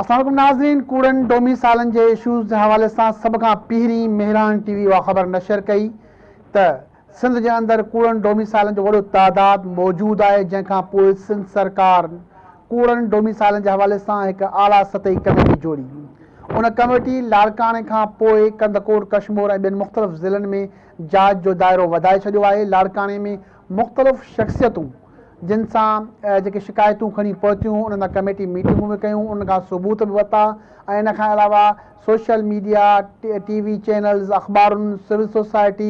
اسلام عليڪم ناظرين ڪوڙن ڊوميسائلن جي اشوز جي حوالي سان سڀ کان پهرين مهراڻ ٽي وي اها خبر نشر ڪئي ته سنڌ جي اندر ڪوڙن ڊوميسائلن جو وڏو تعداد موجود آهي جنهن کان پوء سنڌ سرڪار ڪوڙن ڊوميسائلن جي حوالي سان هڪ اعليٰ سطحي ڪميٽي جوڙي ان ڪميٽي لاڙڪاڻي کان پوء ڪنڌڪوٽ ڪشمور ۽ ٻين مختلف ضلعن ۾ جاچ جو دائرو وڌائي ڇڏيو آهي لاڙڪاڻي ۾ مختلف شخصيتون جن سان جيڪي شڪايتون کڻي پهتيون انهن سان ڪميٽي ميٽنگون به ڪيون ان کان ثبوت به ورتا ۽ ان کان علاوه social media, T V channels, اخبارن، سول سوسائٽي،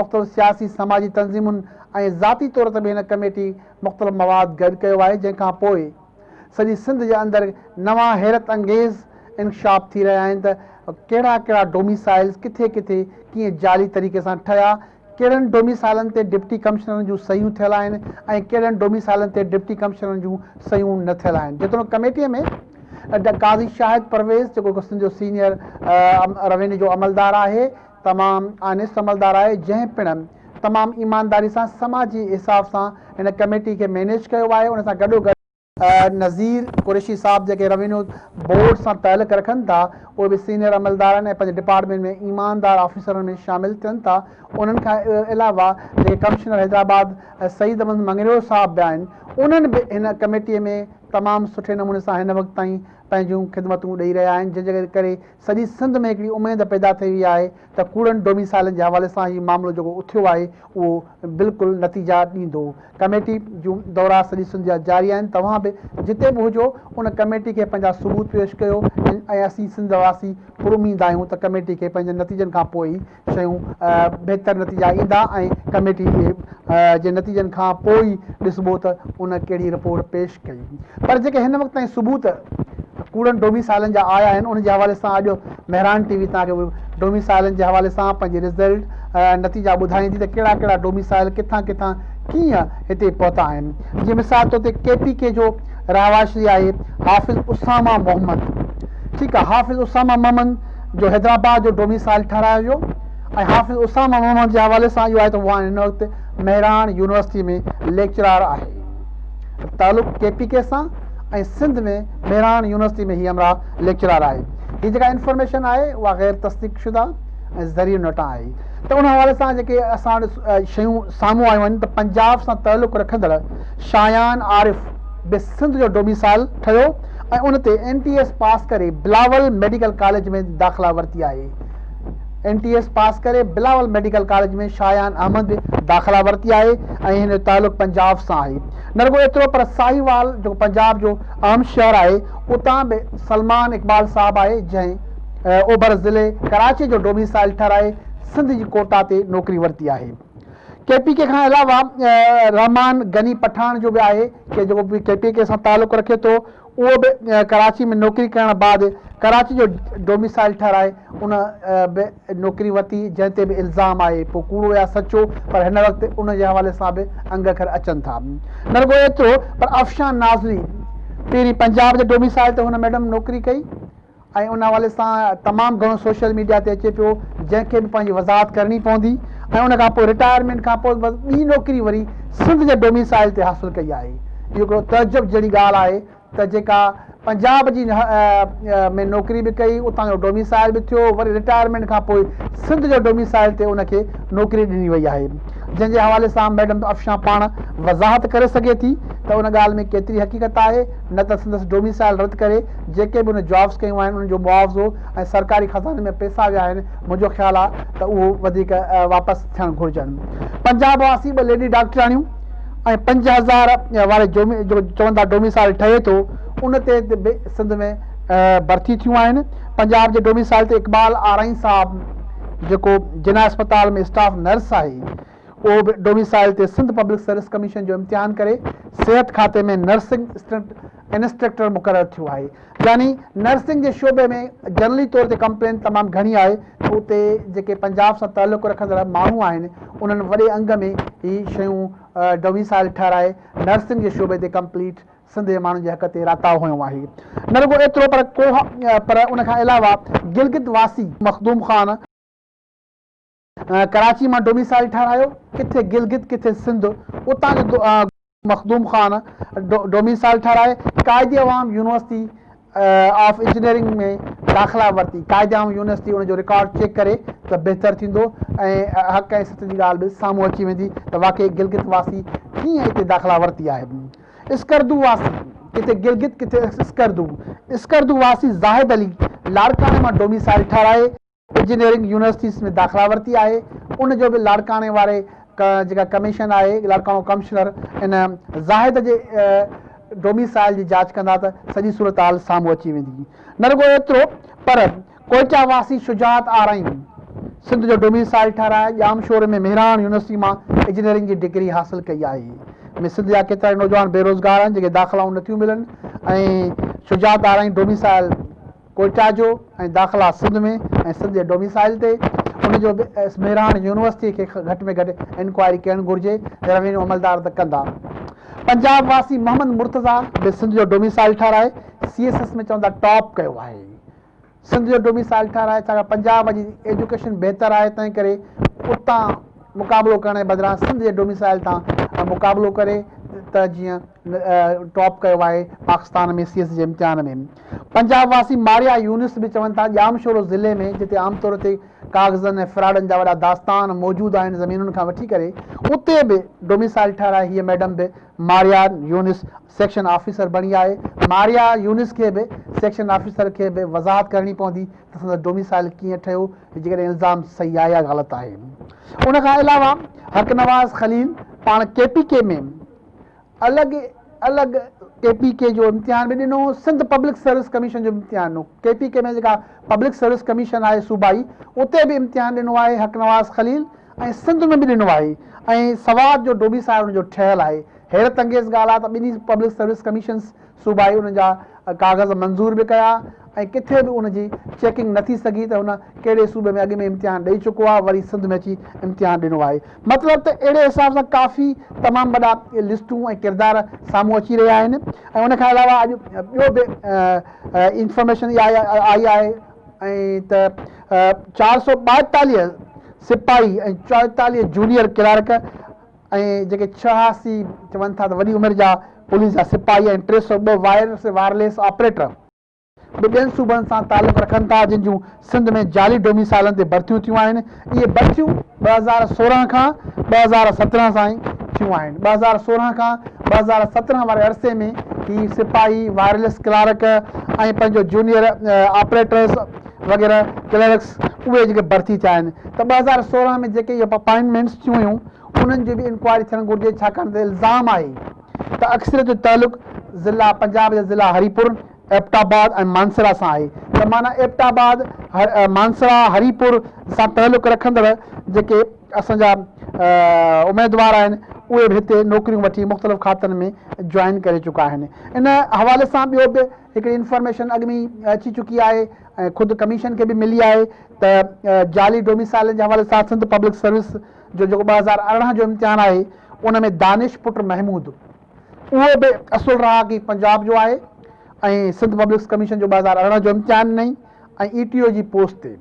مختلف سياسي سماجي تنظيمن ۽ ذاتي طور تي به هن ڪميٽي مختلف مواد گڏ ڪيو آهي جنهن کان پوء سڄي سنڌ جي اندر نوان حيرت انگيز انڪشاف ٿي رهيا آهن ته ڪهڙا ڪهڙا ڊوميسائيلز ڪٿي ڪٿي ڪيئن جعلي طريقي سان ٺهيا ڪهڙن ڊوميسائلن تي ڊپٽي ڪمشنرن جون صحيحون ٿيل آهن ۽ ڪهڙن ڊوميسائلن تي ڊپٽي ڪمشنرن جون صحيحون نه ٿيل آهن جيتوڻيڪ ڪميٽي ۾ قاضي شاهد پرويز جيڪو هڪ سنڌ جو سينيئر روينيو جو عملدار آهي تمام آنيسٽ عملدار آهي جنهن پڻ تمام ايمانداري سان سماجي حساب سان هن ڪميٽي کي مينيج ڪيو آهي ان سان گڏو گڏ نظير قريشي صاحب جيڪي روينيو بورڊ سان تعلق رکن ٿا اهي به سينئر عملدارن ۽ پنهنجي ڊپارٽمينٽ ۾ ايماندار آفيسرن ۾ شامل ٿين ٿا انهن کان علاوه جيڪي ڪمشنر حيدرآباد سعيد احمد مڱريو صاحب به آهن انهن به هن ڪميٽي ۾ تمام سٺي نموني سان هن وقت تائين پنهنجون خدمتون ڏئي رهيا آهن جنهن جي ڪري سڄي سنڌ ۾ هڪڙي اميد پيدا ٿئي وئي آهي ته ڪوڙن ڊوميسائيلن جي حوالي سان هي معاملو جيڪو اٿيو آهي اهو بلڪل نتيجا ڏيندو. ڪميٽي جون دورا سڄي سنڌ جا جاري آهن توهان به جتي به هجو ان ڪميٽي کي پنهنجا ثبوت پيش ڪيو ۽ اسين سنڌ واسي پراميد آهيون ته ڪميٽي کي پنهنجن نتيجن کان پوء ئي شيون بهتر نتيجا ايندا ۽ ڪميٽي جي نتيجن کان پوء ئي ڏسبو ته ان ڪهڙي رپورٽ پيش ڪئي پر جيڪي هن وقت تائين ثبوت ڪوڙن ڊوميسائلن جا آيا آهن ان جي حوالي سان اڄ مهراڻ ٽي وي توهان کي ڊوميسائلن جي حوالي سان پنهنجي رزلٽ نتيجا ٻڌائيندي ته ڪهڙا ڪهڙا ڊوميسائل ڪٿان ڪٿان ڪيئن هتي پهتا آهن جي مثال طور تي ڪي پي ڪي جو رهواشي آهي حافظ اسامه محمد ٺيڪ آهي حافظ اسامه محمد جو حيدرآباد جو ڊوميسائيل ٺهرايو ويو ۽ حافظ اسامه محمد جي حوالي سان اهو آهي ته هو هن وقت مهراڻ يونيورسٽي ۾ ليڪچرار آهي. تعلق ڪي پي ڪي سان ۽ سنڌ ۾ مهراڻ يونيورسٽي ۾ هي همراهه ليڪچرار آهي. هي جيڪا انفارميشن آهي اها غير تصديق شده ۽ ذريعي نٽان آهي ته ان حوالي سان جيڪي اسان وٽ شيون سامهون آيون آهن ته پنجاب سان تعلق رکندڙ شايان عارف به سنڌ جو ڊوميسائيل ٺهيو ۽ ان تي اين ٽي ايس پاس ڪري بلاول ميڊيڪل ڪاليج ۾ داخلا ورتي آهي. اين ٽي ايس پاس ڪري بلاول ميڊيڪل ڪاليج ۾ شايان احمد به داخلا ورتي آهي ۽ هن جو تعلق پنجاب سان آهي. نه رڳو ايترو پر ساهيوال جيڪو پنجاب جو اهم شهر آهي اتان به سلمان اقبال صاحب آهي جنهن اوڀر ضلعي ڪراچي جو ڊوميسائل ٺهرائي سنڌ جي ڪوٽا تي نوڪري ورتي آهي. ڪي پي ڪي کان علاوه رحمان غني پٺاڻ جو به آهي ڪي جيڪو ڪي پي ڪي سان تعلق رکي ٿو اهو به ڪراچي ۾ نوڪري ڪرڻ بعد ڪراچي جو ڊوميسائل ٺهرائي ان به نوڪري ورتي جنهن تي به الزام آهي پوء ڪوڙو يا سچو پر هن وقت ان جي حوالي سان به انگ اکر اچن ٿا نه رڳو ايترو پر افشان نازلي پهرين پنجاب جي ڊوميسائل تي هن ميڊم نوڪري ڪئي ۽ ان حوالي سان تمام گهڻو سوشل ميڊيا تي اچي پيو جنهن کي به پنهنجي وضاحت ڪرڻي پوندي ۽ ان کان پوء رٽائرمينٽ کان پوء بس ٻي نوڪري وري سنڌ جي ڊوميسائل تي حاصل ڪئي آهي اهو هڪڙو تعجب جهڙي ڳالهه آهي ته جيڪا پنجاب جي ۾ نوڪري به ڪئي اتان جو ڊوميسائل به ٿيو وري رٽائرمينٽ کان پوء سنڌ جو ڊوميسائل تي ان کي نوڪري ڏني وئي آهي جنهن جي حوالي سان ميڊم افشان پاڻ وضاحت ڪري سگهي ٿي ته ان ڳالهه ۾ ڪيتري حقيقت آهي نه ته سندس ڊوميسائيل رد ڪري جيڪي به هن جابس ڪيون آهن انهن جو معاوضو ۽ سرڪاري خزاني ۾ پئسا ويا آهن منهنجو خيال آهي ته اهو وڌيڪ واپس ٿيڻ گهرجن پنجاب واسي ٻه ليڊي ڊاڪٽرياڻيون ۽ پنج هزار واري جو چون ٿا ڊوميسائيل ٺهي ٿو ان تي به سنڌ ۾ ڀرتي ٿيون آهن پنجاب جي ڊوميسائيل تي اقبال آرائين صاحب جيڪو جناح اسپتال ۾ اسٽاف نرس آهي اهو به ڊوميسائل تي سنڌ پبلڪ سروس ڪميشن جو امتحان ڪري صحت کاتي ۾ نرسنگ اسٽنٽ انسٽرڪٽر مقرر ٿيو آهي يعني نرسنگ جي شعبي ۾ جنرلي طور تي ڪمپلين تمام گهڻي آهي ته اتي جيڪي پنجاب سان تعلق رکندڙ ماڻهو آهن انهن وڏي انگ ۾ هي شيون ڊوميسائل ٺهرائي نرسنگ جي شعبي تي ڪمپليٽ سنڌ جي ماڻهن جي حق تي راتاء هنيو آهي نه رڳو ايترو پر ڪوهه پر ان کان علاوه گلگت واسي مخدوم خان ڪراچي مان ڊوميسائيل ٺهرايو، ڪٿي گلگت ڪٿي سنڌ، اتان جو مخدوم خان ڊوميسائيل ٺهرائي Quaid Awam university of engineering ۾ داخلا ورتي، قائد عوام يونيورسٽي ان جو رڪارڊ چيڪ ڪري ته بهتر ٿيندو ۽ حق ۽ سچ جي ڳالهه به سامهون اچي ويندي ته واقعي گلگت واسي ڪيئن اتي داخلا ورتي آهي. اسڪردو واسي، ڪٿي گلگت ڪٿي اسڪردو، اسڪردو واسي زاهد علي لاڙڪاڻي مان ڊوميسائيل ٺهرائي، انجنيئرنگ يونيورسٽيز ۾ داخلا ورتي آهي ان جو به لاڙڪاڻي واري جيڪا ڪميشن آهي لاڙڪاڻو ڪمشنر ان زاهد جي ڊوميسائل جي جاچ ڪندا ته سڄي صورتحال سامهون اچي ويندي نه رڳو ايترو پر ڪوئيٽا واسي شجاعت آرائين سنڌ جو ڊوميسائل ٺهرائي ڄامشوري ۾ مهراڻ يونيورسٽي مان انجنيئرنگ جي ڊگري حاصل ڪئي آهي ۾ سنڌ جا ڪيترا نوجوان بيروزگار آهن جن کي داخلائون نٿيون ملن ۽ شجاعت آرائين ڊوميسائل ڪوئٽا جو ۽ داخلا سنڌ ۾ ۽ سنڌ جي ڊوميسائيل تي ان جو به ايس مهراڻ يونيورسٽي کي گهٽ ۾ گهٽ انڪوائري ڪرڻ گهرجي روينيو عملدار ته ڪندا پنجاب واسي محمد مرتضيٰ به سنڌ جو ڊوميسائيل ٺهرائي سي ايس ايس ۾ چوندا ٽاپ ڪيو آهي سنڌ جو ڊوميسائيل ٺهرائي ڇاڪاڻ پنجاب جي ايجوڪيشن بهتر آهي تنهن ڪري اتان مقابلو ڪرڻ جي بدران سنڌ جي ڊوميسائيل تان مقابلو ڪري ته جيئن ٽاپ ڪيو آهي پاڪستان ۾ سي ايس ايس جي امتحان ۾ پنجاب واسي ماريا يونس به چون ٿا ڄام شورو ضلعي ۾ جتي عام طور تي ڪاغذن ۽ فراڊن جا وڏا داستان موجود آهن زمينن کان وٺي ڪري اتي به ڊوميسائل ٺهرائي هيء ميڊم به ماريا يونس سيڪشن آفيسر بڻي آهي ماريا يونس کي به سيڪشن آفيسر کي به وضاحت ڪرڻي پوندي ته سندس ڊوميسائل ڪيئن ٺهيو جيڪڏهن الزام صحيح آهي يا غلط آهي ان کان علاوه حق نواز خليل پاڻ ڪي پي ڪي ۾ الڳ الڳ ڪي پي ڪي جو امتحان به ڏنو، سنڌ پبلڪ سروس ڪميشن جو به امتحان ڏنو، ڪي پي ڪي ۾ جيڪا پبلڪ سروس ڪميشن آهي صوبائي اتي به امتحان ڏنو آهي حق نواز خليل ۽ سنڌ ۾ به ڏنو آهي ۽ سوات جو ڊوبيسائر ان جو ٺهيل آهي، حيرت انگيز ڳالهه آهي ته ٻنهي پبلڪ سروس ڪميشنز صوبائي ان جا ڪاغذ منظور به ڪيا ۽ ڪٿي به ان جي چيڪنگ نه ٿي سگهي ته هن ڪهڙي صوبي ۾ اڳ ۾ امتحان ڏئي چڪو آهي وري سنڌ ۾ اچي امتحان ڏنو آهي مطلب ته اهڙي حساب سان ڪافي تمام وڏا لسٽون ۽ ڪردار سامهون اچي رهيا آهن ۽ ان کان علاوه اڄ ٻيو به انفارميشن آئي آهي ۽ ته چار سؤ ٻائيتاليهه سپاهي ۽ چوئيتاليهه جونيئر ڪلارڪ ۽ جيڪي ڇهاسي چون ٿا ته وڏي عمر جا پوليس جا سپاهي ۽ ٽي سؤ ٻه وائرس وائرليس آپريٽر به ٻين صوبن سان تعلق رکن ٿا جن جون سنڌ ۾ جعلي ڊوميسائلن تي ڀرتيون ٿيون آهن اهي ڀرتيون ٻه هزار سورهن کان ٻه هزار سترهن تائين ٿيون آهن ٻه هزار سورهن کان ٻه هزار سترهن واري عرصي ۾ هي سپاهي وائرليس ڪلارڪ ۽ پنهنجو جونيئر آپريٽرز وغيره ڪلرڪس اهي جيڪي ڀرتي ٿيا آهن ته ٻه هزار سورهن ۾ جيڪي اهي اپائنٽمينٽس ٿيون هيون انهن جي به انڪوائري ٿيڻ گهرجي ڇاڪاڻ ته الزام آهي ته اڪثريت جو تعلق ضلع پنجاب جي ضلع هري پور، ايبٽ آباد ۽ مانسهره سان آهي ته معنيٰ ايبٽ آباد، مانسهره، هري پور سان تعلق رکندڙ جيڪي اسان جا اميدوار آهن اهي به هتي نوڪريون وٺي مختلف کاتن ۾ جوائن ڪري چڪا آهن. ان حوالي سان ٻيو به هڪڙي انفارميشن اڳ ۾ ئي اچي چڪي آهي ۽ خود ڪميشن کي به ملي آهي ته جعلي ڊوميسائلن جي حوالي سان سنڌ پبلڪ سروس جو جيڪو ٻه هزار ارڙهن جو امتحان آهي ان ۾ دانش پٽ محمود اهو به اصل رهاڪي پنجاب جو آهي ۽ سنڌ پبلڪس ڪميشن جو ٻه هزار ارڙهن جو امتحان ڏنئي ۽ اي ٽي او جي پوسٽ تي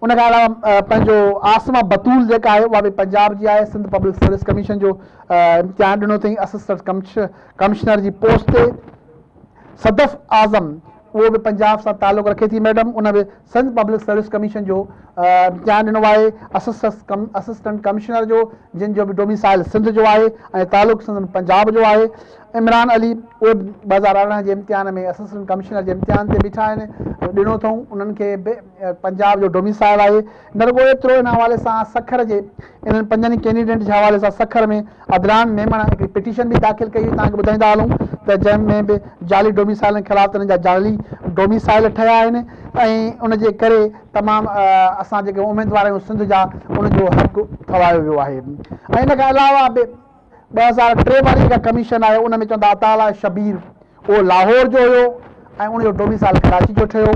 ان کان علاوه پنهنجو عاصمه بتول جيڪا آهي اها به پنجاب جي آهي سنڌ پبلڪ سروس ڪميشن جو امتحان ڏنو اٿئي اسسٽنٽ ڪمشنر جي پوسٽ تي صدف اعظم اهو به پنجاب سان تعلق رکي ٿي ميڊم ان به سنڌ پبلڪ سروس ڪميشن جو امتحان ڏنو آهي اسسٽنٽ ڪمشنر جو جن جو به ڊوميسائل سنڌ جو آهي ۽ تعلق سنڌ پنجاب جو آهي عمران علي اهي به ٻه هزار ارڙهن جي امتحان ۾ اسسٽنٽ ڪمشنر جي امتحان تي بيٺا آهن ڏنو اٿئون انهن کي به پنجاب جو ڊوميسائل آهي نه رڳو ايترو ان حوالي سان سکر جي انهن پنجن ئي ڪينڊيڊيٽ جي حوالي سان سکر ۾ عدنان ميمڻ هڪڙي پٽيشن به داخل ڪئي هئي، توهان کي ٻڌائيندا هلون ته جنهن ۾ به جعلي ڊوميسائيلن خلاف ته انهن جا جعلي ڊوميسائيل ٺهيا آهن ۽ ان جي ڪري تمام اسان جيڪي اميدوار آهيون سنڌ جا ان جو حق ٺهرايو ويو آهي ۽ ان کان علاوه به ٻه هزار ٽي واري جيڪا ڪميشن آهي ان ۾ چون ٿا عطاء الله شبير اهو لاهور جو هيو ۽ ان جو ڊوميسائل ڪراچي جو ٺهيو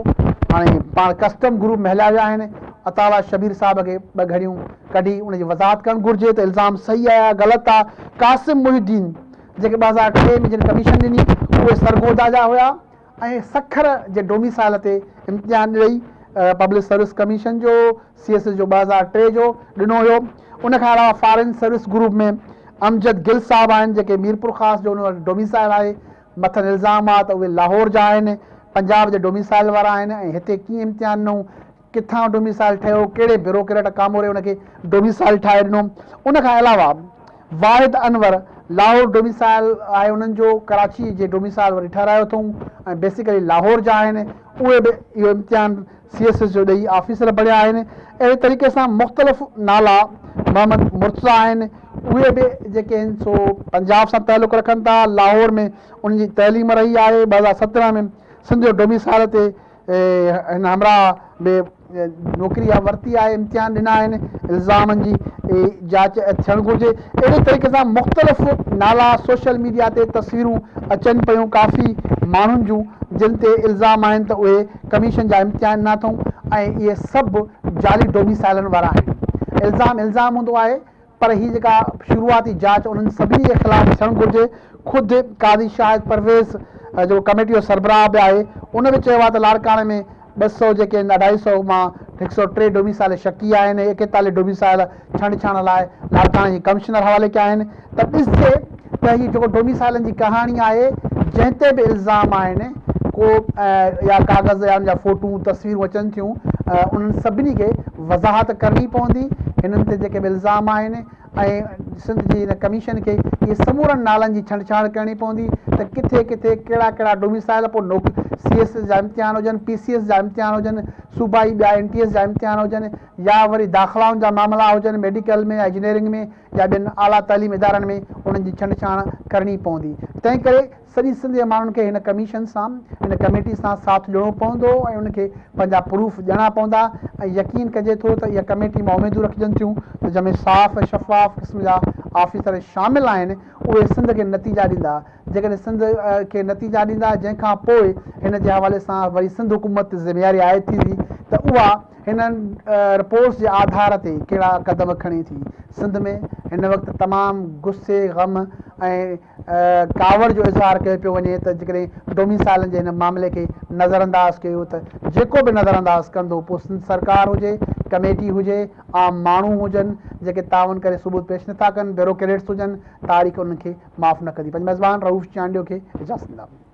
هاڻي پاڻ ڪسٽم گروپ مهليا ويا آهن عطاء الله شبير صاحب کي ٻه گهڙيون ڪڍي ان جي وضاحت ڪرڻ گهرجي ته الزام صحيح آهي يا غلط آهي قاسم محي الدين جيڪي ٻه هزار ٽي ۾ جن ڪميشن ڏني اهي سرگوڌا جا هيا ۽ سکر جي ڊوميسائل تي امتحان ڏئي پبلڪ سروس ڪميشن جو، سي ايس ايس جو ٻه هزار ٽي جو، ڏنو هيو. ان کان علاوه foreign service group ۾ Amjad Gul صاحب آهن جيڪي ميرپورخاص جو انهن وٽ ڊوميسائل آهي. مٿن الزام آ ته اهي لاهور جا آهن، پنجاب جي ڊوميسائل وارا آهن ۽ هتي ڪيئن امتحان ڏنئون؟ ڪٿان ڊوميسائيل ٺهيو، ڪهڙي بيوروڪريٽ ڪاموري ان کي ڊوميسائيل ٺاهي ڏنو. ان کان علاوه واحد انور لاهور ڊوميسائيل آهي انهن جو ڪراچي جي ڊوميسائيل وري ٺهرايو اٿئون ۽ بيسيڪلي لاهور جا آهن اهي به اهو امتحان سي ايس ايس جو ڏئي آفيسر بڻيا آهن اهڙي طريقي سان مختلف نالا محمد مرتضيٰ آهن اهي به جيڪي آهن سو پنجاب سان تعلق رکن ٿا لاهور ۾ انهن جي تعليم رهي آهي ٻه هزار سترهن ۾ سنڌ جو ڊوميسائيل تي هن همراهه به نوڪري اها ورتي آهي، امتحان ڏنا آهن، الزامن جي جاچ ٿيڻ گهرجي. اهڙي طريقي سان مختلف نالا سوشل ميڊيا تي تصويرون اچن پيون ڪافي ماڻهن جون جن تي الزام آهن ته اهي ڪميشن جا امتحان ڏنا اٿئون ۽ اهي سڀ جعلي ڊوميسائلن وارا آهن الزام الزام هوندو آهي پر هي جيڪا شروعاتي جاچ انهن سڀني جي خلاف ٿيڻ گهرجي، خود قاضي شاهد پرويز جيڪو ڪميٽي جو سربراهه به آهي ان به چيو آهي ته لاڙڪاڻي ۾ ٻه سؤ جيڪي آهن اڍائي سؤ مان هڪ سؤ ٽي ڊوميسائيل شڪي آهن ۽ ايڪيتاليهه ڊوميسائيل ڇنڊڇاڻ لاء لاڙڪاڻي جي ڪمشنر حوالي ڪيا آهن ته ڏسجي ته هي جيڪو ڊوميسائيلن جي ڪهاڻي آهي جنهن تي به الزام آهن ڪو يا ڪاغذ يا ان جا فوٽون تصويرون اچن ٿيون انهن سڀني کي وضاحت ڪرڻي پوندي هنن تي جيڪي به الزام آهن ۽ سنڌ جي هن ڪميشن کي اهي سمورن نالن جي ڇنڊ ڇاڻ ڪرڻي پوندي ته ڪٿي ڪٿي ڪهڙا ڪهڙا ڊوميسائيل پوء نوڪ سي ايس جا امتحان هجن پي سي ايس جا امتحان هجن صوبائي ٻيا اين ٽي ايس جا امتحان هجن يا وري داخلائن جا معاملا هجن ميڊيڪل ۾ يا انجنيئرنگ ۾ يا ٻين اعليٰ تعليم ادارن ۾ انهن جي ڇنڊڇاڻ ڪرڻي پوندي. تنهن ڪري سڄي سنڌ جي ماڻهن کي هن ڪميشن سان، هن ڪميٽي سان ساٿ ڏيڻو پوندو ۽ انهن کي پنهنجا پروف ڏيڻا پوندا ۽ يقين ڪجي ٿو ته اها ڪميٽي مان اميدون رکجن ٿيون ته جنهن ۾ صاف ۽ شفاف قسم جا آفيسر شامل آهن اهي سنڌ کي نتيجا ڏيندا جيڪڏهن سنڌ کي نتيجا ڏيندا جنهن کان پوء هن جي حوالي سان وري سنڌ حڪومت ذميواري عائد ٿيندي ته اها هنن رپورٽس جي آڌار تي ڪهڙا قدم کڻي ٿي. سنڌ ۾ هن وقت تمام غصي، غم ۽ ڪاوڙ جو اظهار ڪيو پيو وڃي ته جيڪڏهن ڊوميسائيلن جي هن معاملي کي نظرانداز ڪيو ته جيڪو به نظرانداز ڪندو پوء سنڌ سرڪار هجي، ڪميٽي هجي، عام ماڻهو هجن جيڪي تعاون ڪري ثبوت پيش نٿا ڪن، بيوروڪريٽس هجن، تاريخ انهن کي معاف نه ڪندي. پنهنجي ميزبان رئوف چانڊيو کي اجازت ڏيندائون.